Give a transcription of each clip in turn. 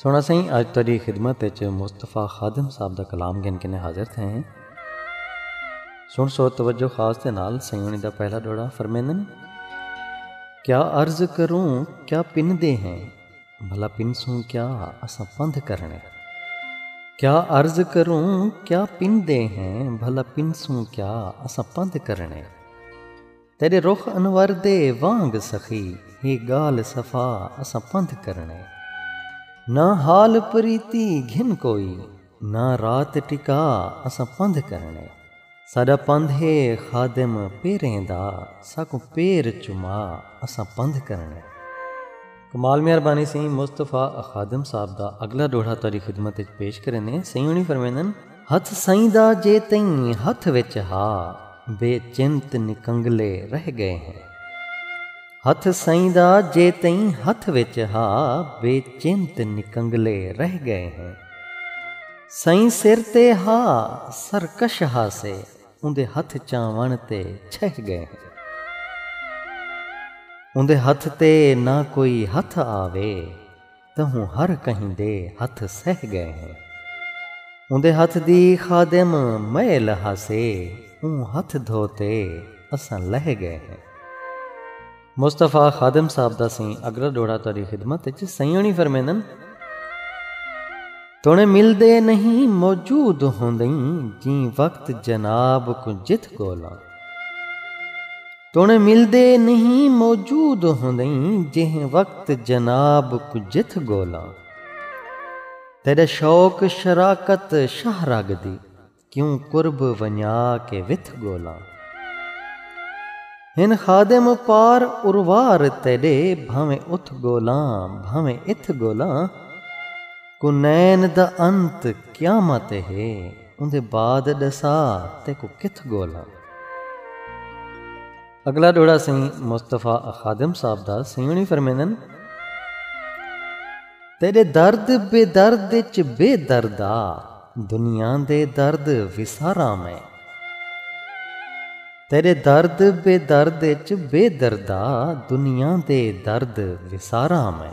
سوہݨا سئیں اڄ تہاݙی خدمت اچ مصطفی خادم صاحب دا کلام گھن کنیں حاضر تھئے ہیں۔ سݨ سو توجہ خاص دے نال سئیں ہوݨی دا پہلا ݙوہڑا فرمیندن کیا عرض کروں کیا پندے ہیں بھلا پنسوں کیا اساں پندھ کرݨے کیا عرض کروں کیا پندے ہیں بھلا پنسوں کیا اساں پندھ کرݨے۔ تیݙے رخ انور دے وانگ سخی ہے ڳالھ صفا اساں پندھ کرݨے نہ حال پریتی گھن کوئی نہ رات ٹکا اساں پندھ کرݨے ساݙا پندھ ہے خادم پیریں دا ساکوں پیر چما اساں پندھ کرݨے۔ کمال مہربانی سئیں مصطفی خادم صاحب دا اگلا ڈوہڑا تہاڈی خدمت وچ پیش کریندے ہیں سئیں ہونی فرمیندن ہتھ سئیں دا جے تئیں ہتھ وچ ہا بے چنت نکنگلے رہ گئے ہیں ہتھ سئیں دا جے تئیں ہتھ وچ ہا بے چنت نکنگلے رہ گئے ہیں سئیں سر تے ہا سرکش ہا سے اوندے ہتھ چاوݨ تے چھہ ڳئے ہیں۔ اوندے ہتھ تے نہ کوئی ہتھ آوے تہوں ہر کہیں دے ہتھ سہہ ڳئے ہیں۔ اوندے ہتھ دی خادم میل ہاسے اوں ہتھ دھو تے اساں لہہ ڳئے ہیں۔ مصطفی خادم صاحب دا سئیں اگلا ڈوہڑا تہاڈی خدمت اچ سئیں ہوݨی فرمیندن توݨے ملدے نہیں موجود ہوندئیں جیں وقت جناب کوں جتھ ڳولاں توݨے ملدے نہیں موجود ہوندئیں جیں وقت جناب کوں جتھ ڳولاں تیݙا شوق شراکت شاہ رڳ دی کیوں قرب ونڄا کے وتھ ڳولاں۔ ہن خادم پار اروار تیݙے بھانویں اتھ ڳولاں بھانویں اتھ ڳولاں۔ کنین دا انت قیامت ہے اوندے بعد ݙسا تیکوں کتھ ڳولاں۔ اگلا ڈوڑا سئیں مصطفی خادم صاحب دا سئیں ہونی فرمیندن تیرے درد بے درد اچ بے دردا دنیا دے درد وسارا میں تیرے درد بے درد اچ بے دردا دنیا دے درد وسارا میں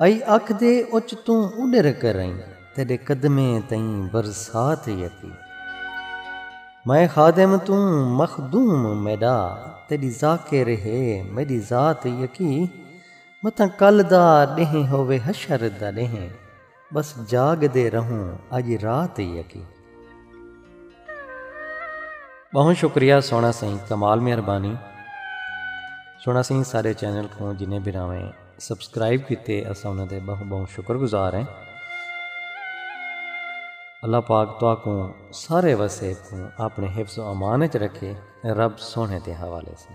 ائی اکھ دے اچ توں اڈر کر ائی تیڈے قدمیں تئیں برسات یتی میں خادم توں مخدوم میڈا تیڈی ذاکر ہے میڈی ذات یکی متاں کل دا ڈینہہ ہووے حشر دا ڈینہہ بس جاگ دے رہوں اج رات یکی۔ بہوں شکریہ سونا سئیں کمال مہربانی سونا سئیں سارے چینل کوں جنہیں بھراویں۔ سبسکرائب کیتے اساں انہاں دے بہوں بہوں شکر گزار ہیں اللہ پاک تہاکوں سارے وسیب کوں اپنے حفظ و امان وچ رکھے رب سوہنے دے حوالے سن۔